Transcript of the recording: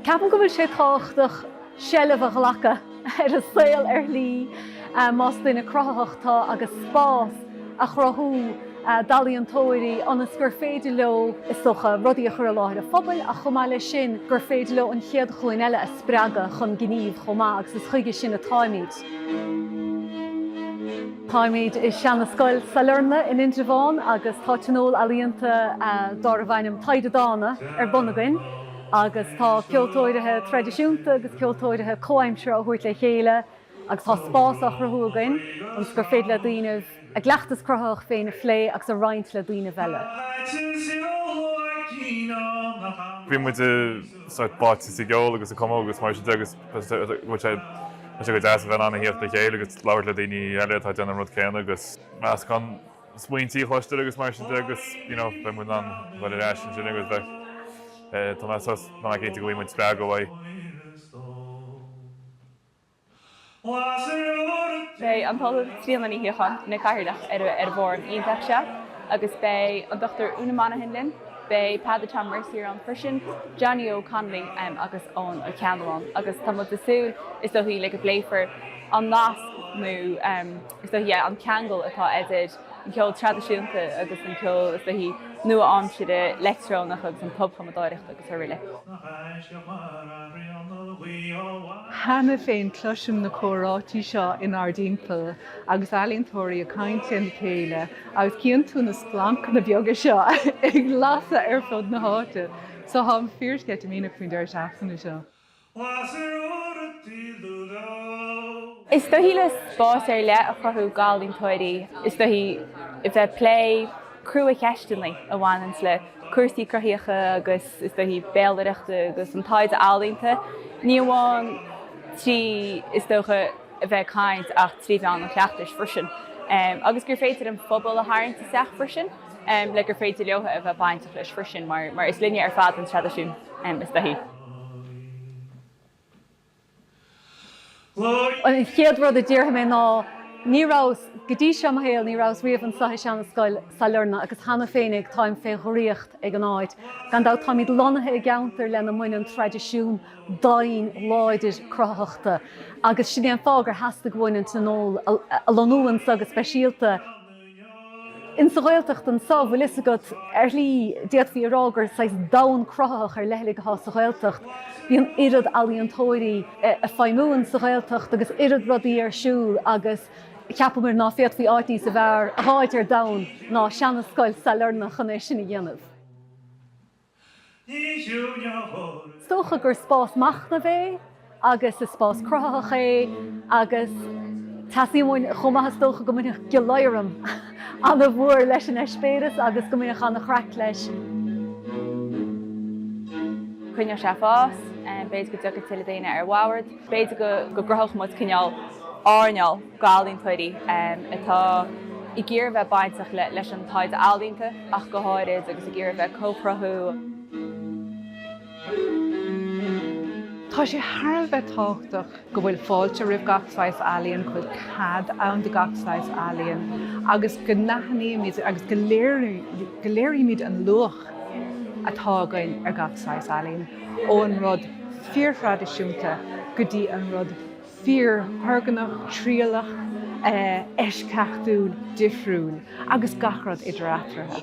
Ceapaim go bhfuil sé tábhachtach seilbh a ghlacadh ar an saol ar shlí más duine cruthaitheach tú agus spás a chruthú d'ealaíontóirí ionas gur féidir leo, is dócha, rudaí a chur i láthair an phobail ach chomh maith leis sin gur féidir leo an chéad ghlúin eile a spreagadh chun gnímh chomh maith agus is chuige sin atáimid. Táimid i Seana Scoil Sailearna in Indreabhán agus tá tionól ealaíonta dárbh ainm Taighde Dána ar bun againn agus tá ceoltóirithe traidisiúnta agus ceoltóirithe comhaimseartha á thabhairt le chéile agus tá spás á chruthú againn ionas gur féidir le daoinibh a gcleachtas cruthaitheach féin a phlé agus a roinnt le daoinibh eile. Bhí muid sórt báite sa gceol agus sa chumadh agus mar sin de agus bhí sé go deas a bheith in ann a theacht le chéile agus labhairt le daoine eile atá ag déanamh an rud céanna agus meascán smaointí a chloisteáil agus mar sin de agus you know beidh muid in ann dul ar ais ansin agus bheith eh, tá mé níos ná cinnte go bhfuil muid spreagtha uaidh. Beidh an tOllamh Tríona Ní Shíocháin ina cathaoirleach ar an bhfóram iontach seo agus beidh an Dr Úna Monaghan linn, beidh Peadar Tom Mercier ann freisin, Johnny Óg Connolly agus Eoghan Ó Ceannabháin agus tá muid ag súil, is dóichí, le go bpléifear an nasc nó, is dóichí, le an ceangal atá idir. an ceol traidisiúnta agus an ceol, is dóichí, nua-aimseartha leictreonach agus an tobchumadóireacht agus aroile. Cheana féin cloisim na comhráití seo inár dtimpeall agus ealaíontóirí ag caint lena chéile agus chíonn tú na splancanna beaga seo ag lasadh ar fud na háite. So táim fíorsceitimíneach faoin deireadh seachtaine seo. Is dóichí le spás ar leith a chruthú d'ealaíontóirí, is dóichí, a bheith ag plé cruacheisteanna a bhaineanns le cúrsaí cruthaíocha agus, is dóichí, béalaireachta agus an taighde ealaíonta, ní amháin trí, is dócha, a bheith ag caint ach trí mheán an chleachtais freisin, agus gur féidir an phobal a tharraingt isteach freisin le gur féidir leothab a bheith bainteach leis freisin mar is linne ar fad an traidisiún, is dóichí. An chéad rud a déarfaidh mé ná, ní rabhas, go dtí seo i mo shaol, ní rabhas riamh anseo i Seanascoil Sailearna, agus cheana féinig táim fé dhraíocht ag an áit. Gan dabht, táimid lonnaithe i gceantar lena mbaineann traidisiún daingean láidir cruthaitheachta, agus sin é an fáth gur theastaigh uainn an Tionól a lonnú anseo go speisialta. Insa Ghaeltacht anso, bhfuil fhios agat, ar shlí, d'fhéadfaí a rá gur saghas domhan cruthaitheach ar leithligh athá sa Ghaeltacht. Bíonn an oiread ealaíontóirí a' feidhmiú insa Ghaeltacht agus oiread rudaí ar siúl agus cheapamair ná féadfaí áit níosa fearr a dh'fháilt ar domhan ná seana-scoil Sailearna chun é sin a dhéanamh. Is dócha gur spás machnaimh é agus is spás cruthaitheach é agus teastaíonn chomh maith, is dócha, go mbainfeadh gleoiréis ana-mhór leis an eispéireas agus go mbainfeadh ana-chraic leis. Coinneoidh sé ag fás, b'fhéidir go dtiocfaidh tuilleadh daoine ar bord, b'fhéidir go gcruthódh muid cineál arm. ealaíontóirí atá ag iarraidh a bheith bainteach leis an taighde ealaíonta ach go háirid agus ag iarraidh a bheith ag comhchruthú. Tá sé thar a bheith tábhachtach go bhfuil fáilte roimh gach saghas ealaíon, go bhfuil cead ann do gach saghas ealaíon agus go n-aithnímid agus go léirímid an luach atá againn ar gach saghas ealaíon, ón rud fíorthraidisiúnta go dtí an rud fíorthurgnamhach, trialach, eisceachtúil, difriúil agus gach rud idir eatarthu.